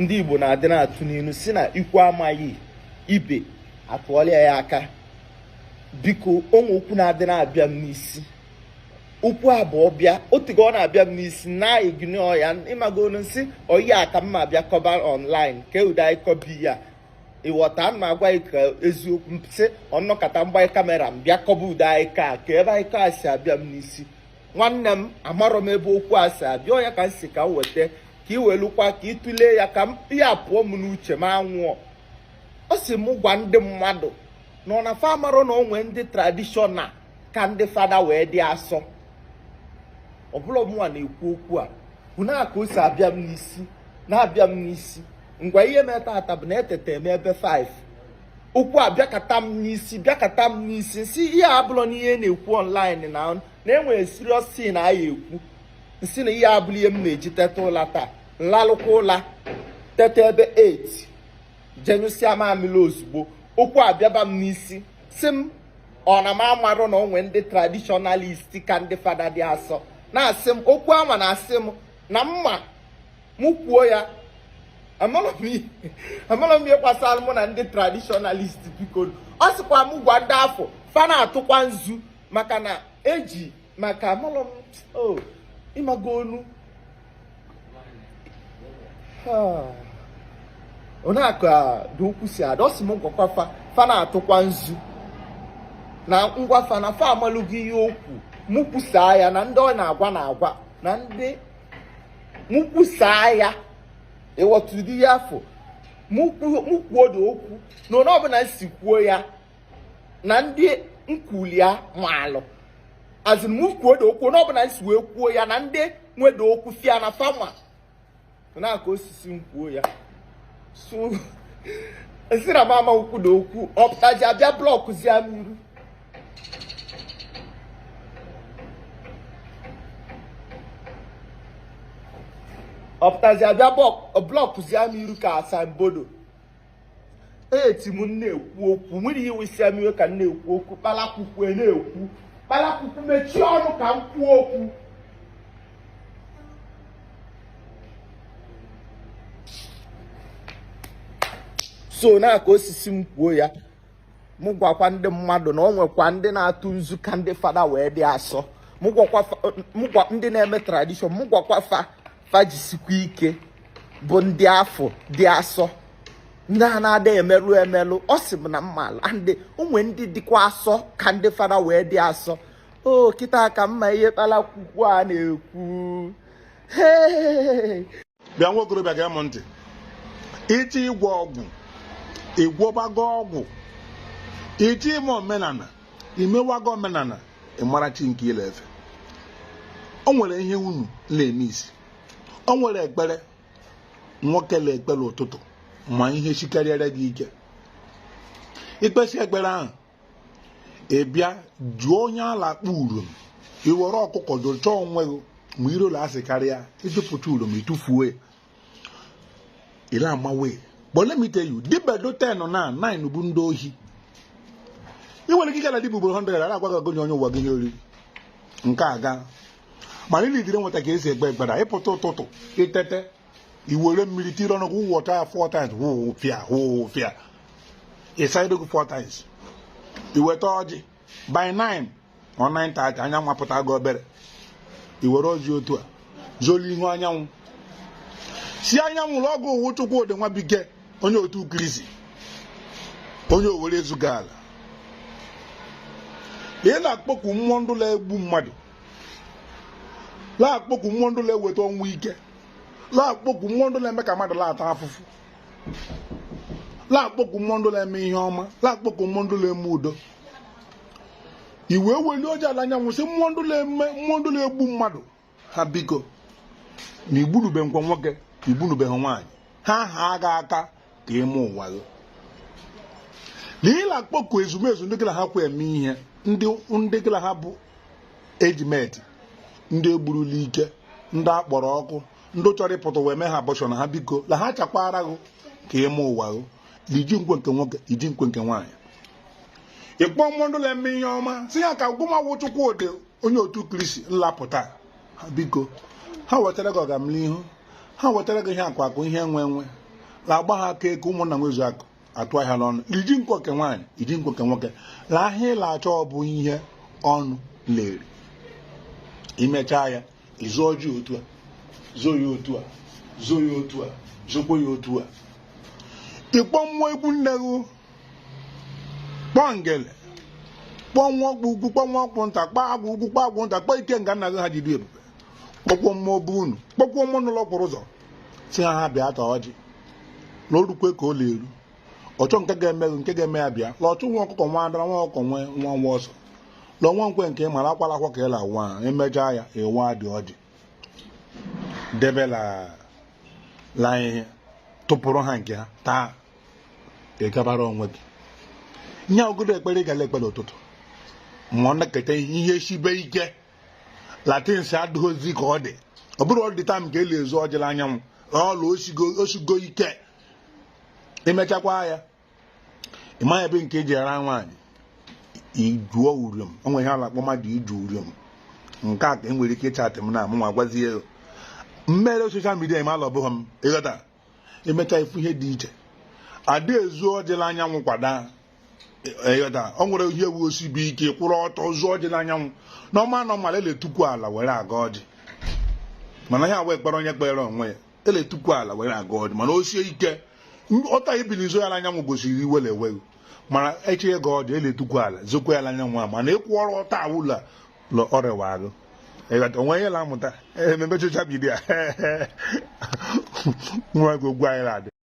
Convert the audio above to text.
ndị Igbo na-adị na-atụ n'ilu si na ikwu amaghị ibe atụọlụ ya aka biko o nwe okwu na-adị na-abịa m n'isi okwu a bụ ọ bịa o teego ọ na-abịa m n'isi na-ignore ya ị mago onu m sị oyi a ka mma bịa kọba ọnlaịn ke ụdị ịka ọ bụ ya ịghọta m na-agwa gị ka eziokwu sị ọ nọkata m gbanye kamera m bịa kọba ụdị ịka a ke ebe ịka a si abịa m n'isi nwanne m amarọ m ebe okwu a si abịa ọ ya ka m si ka m weta ka ị welukwa ka ị tụlee ya ka m ya pụọ m n'uche m anwụọ ọ si m gwa ndị mmadụ na ọ na fa amarọ na o nwe ndị tradishọnal ka ndị fada wee dị asọ ọ bụrọ mụnwa na-ekwu okwu a bụ na ka o si abịa m n'isi na-abịa m n'isi ngwa ihe me taata bụ na eteta m ebe 5 okwu abịakata m n'isi bịakata m n'isi si ihe a abụrọnụ ihe na-ekwu online na na enwere serious thing a ya-ekwu m sị na ihe a abụrọ ihe m na-eji teta ụla taa m lalụkwa ụla teta ebe 8 je nyụsịa mamịrị ozugbo okwu a bịaba m n'isi si m ọ na m amarọ na o nwe ndị tradishọnalist ka ndị fada dị asọ na-asị m okwu anwa na-asị m na m ma mụ kwuo ya amara m ihe amara m ihe gbasara mụ na ndị tradishọnalist biko ọ sịkwa m gwa ndị afụ fa na-atụkwa nzu maka na eji maka amara m o ị mago onu Ah. onye akụ a dị ukwu si ada ọ sị m gwakwa fa fa na-atụkwa nzu na m gwa fa na fa amalụgo ihe okwu mụ kwusaa ya na ndị ọ na-agwa na-agwa na ndị m kwusaa ya ịghọta ụdị ihe afụ m kwuodo okwu na onu ọbụla m si kwuo ya na ndị m kwulụ ya maalụ as in m kwuodo okwu onu ọbụla m si wee kwuo ya na ndị nwedo okwu si ya na fa ma na ka o si sị m kwuo ya so m sị na m ama ekwudo okwu ọ pụtazi abịa blọkụzie m iru ọ pụtazi abịa blọkụzie m iru ka asambodo eti m na-ekwu okwu nwere ihe wesịa m iwe ka m na-ekwu okwu kpalakwukwu a na-ekwu kpalakwukwu mechie ọnụ ka m kwuo okwu so na ka o si sị m kwuo ya mụ gwakwa ndị mmadụ na ọ nwekwa ndị na-atụ nzu ka ndị fada wee dị asọ mụ gwakwa ndị na-eme tradishọn mụ gwakwa fa fa jisikwa ike bụ ndị afụ dị asọ ndị a na-ada emerụ emerụ ọ sị m na m mala ndị o nwe ndị dịkwa asọ ka ndị fada wee dị asọ ọ kịta ka m ma ihe kpalakwukwu a na-ekwu bịa nwa okorobịa gee m ntị iti ịgwọ ọgwụ ịgwọbago ọgwụ iti ime omenala imewago omenala ịmara chi nke ị la-efe o nwere ihe unu na-emisi o nwere ekpere nwoke la-ekpe l'ụtụtụ ma ihe sikarịara gị ike i kpesịa ekpere ahụ ị bịa jụọ onye a la-akpọ urom i were ọkụkọ jụchaa onwe gị ma irola asị karịa ị jụpụta urom ị tụfuo ya ile amawe but let me tell you dibịa dị 10 na 9 bụ ndị ohi ị nwere ike ịgara dibịa ugboro 100 ara agwaghị gị onye ụwa gị nye oriri nke a gaa mana ị needịrị nweta ka e si ekpe ekpere ị pụta ụtụtụ i teta i were mmiri tiri ọnụ gị wụpụta ya four times wụwụ fịa wụwụ fịa ị saa ihu gị four times i weta ọjị by 9 ọ 9:30 anyanwụ apụtago obere i were ọjị otu a zoo l'ihu anyanwụ sị anyanwụ l'ọ gụ wụ Chukwudị Nwabike onye otu Kristi onye Owerre Ezukala ị na-akpọku mmụọ ndị na-egbu mmadụ na-akpọku mmụọ ndị na-eweta ọnwụ ike la-akpọku mmụọ ndị na-eme ka mmadụ la-ata afụfụ la-akpọku mmụọ ndị na-eme ihe ọma la-akpọku mmụọ ndị na-eme udo i wee welie ọjị a l' anyanwụ sị mmụọ ndị na-eme mmụọ ndị na-egbu mmadụ ha biko na igbunube nkwa nwoke igbunubehụ nwaanyị ha haa gị aka ka i mee ụwa gị na ị la-akpọku ezumezu ndị gị na ha kwa eme ihe ndị ndị gị na ha bụ age mate ndị e gburu l'ike ndị a kpọrọ ọkụ ndị chọrọ ịpụta wee mee ha abortion na ha biko na ha chakwara gị ka i mee ụwa gị na iji nkwe nke nwoke iji nkwe nke nwaanyị ị kpọọ mmụọ ndị na-eme ihe ọma sị ya ka gụnwa wụ Chukwudị onye otu Kristi la-apụta biko ha wetara gị ọgamnihu ha wetara gị ihe akụ akụ ihe enwe enwe la agba ha aka eke ụmụnna nwezuo akụ atụ ahịa n'ọnụ iji nkọ nke nwaanyị iji nkọ nke nwoke la ihe ị la-achọ bụ ihe ọnụ la-eri i mechaa ya i zoo ọjị otu a zoo ya otu a zoo ya otu a zokwa ya otu a ị kpọọ mmụọ ikwu nne gị kpọọ ngele kpọọ nwa ọkpụ ukwu kpọọ nwa ọkpụ nta kpọọ agwụ ukwu kpọọ agwụ nta kpọọ ikenga nna gị ha ji dị ebube kpọkuo mmụọ bụ unu kpọkuo mmụọ nọ l'okporo ụzọ sị ha ha bịa taa ọjị na o rukwe ka ọ na-eru ọchọ nke ga-eme gị nke ga-eme ya bịa la ọchụ nwa ọkụkọ nwe ada nwa ọkụkọ nwe nwọnwọ ọsọ la nwa nkwe nke ị mara akwala akwa ka ị la nwa i mechaa ya ị wadị ọjị debe l'ala ị tụpụrụ ha nke ha taa ị gabara onwe gị nye ogodo ekpere ga la ekpere ụtụtụ ma ọ nọkata ihe sibe ike la things adịghịzi ka ọ dị ọ bụrụ ọ dị time ka e l'ezu ọjị l'anyanwụ ọ la osigo ike imechakwa ya ịma ebe nke eji ara nwaanyị ijuo uriom o nwere ihe a la-akpọ mmadụ iju uriom nke a ka e nwere ike ịchatị m na amụ nwa gwazie mmere social media mala ọ bụghị m ịghọta emecha ifu ihe dị iche ada ezu ọjị l'anyanwụ kwada ịghọta e, o nwere ihe wụ o sibe ike kwụrụ ọtọ zuo ọjị n'anyanwụ na ọma anọ mala e l'etukwu ala were agọ ọjị mana ya wee kpere onye kpere onwe ya e l'etukwu ala were agọ ọjị mana o sie ike ọta ibili zuo ya n'anyanwụ gosiri iwe la-ewe gị mana a chọọ ịgọ ọjị e l'etukwu ala zokwa ya n'anyanwụ a mana ịkwụrụ ọtọ wụ la na ọ rịwa arụ ịghọta o nwe ihe na-amụta emee social media nwa gị ogwu anyị na-adị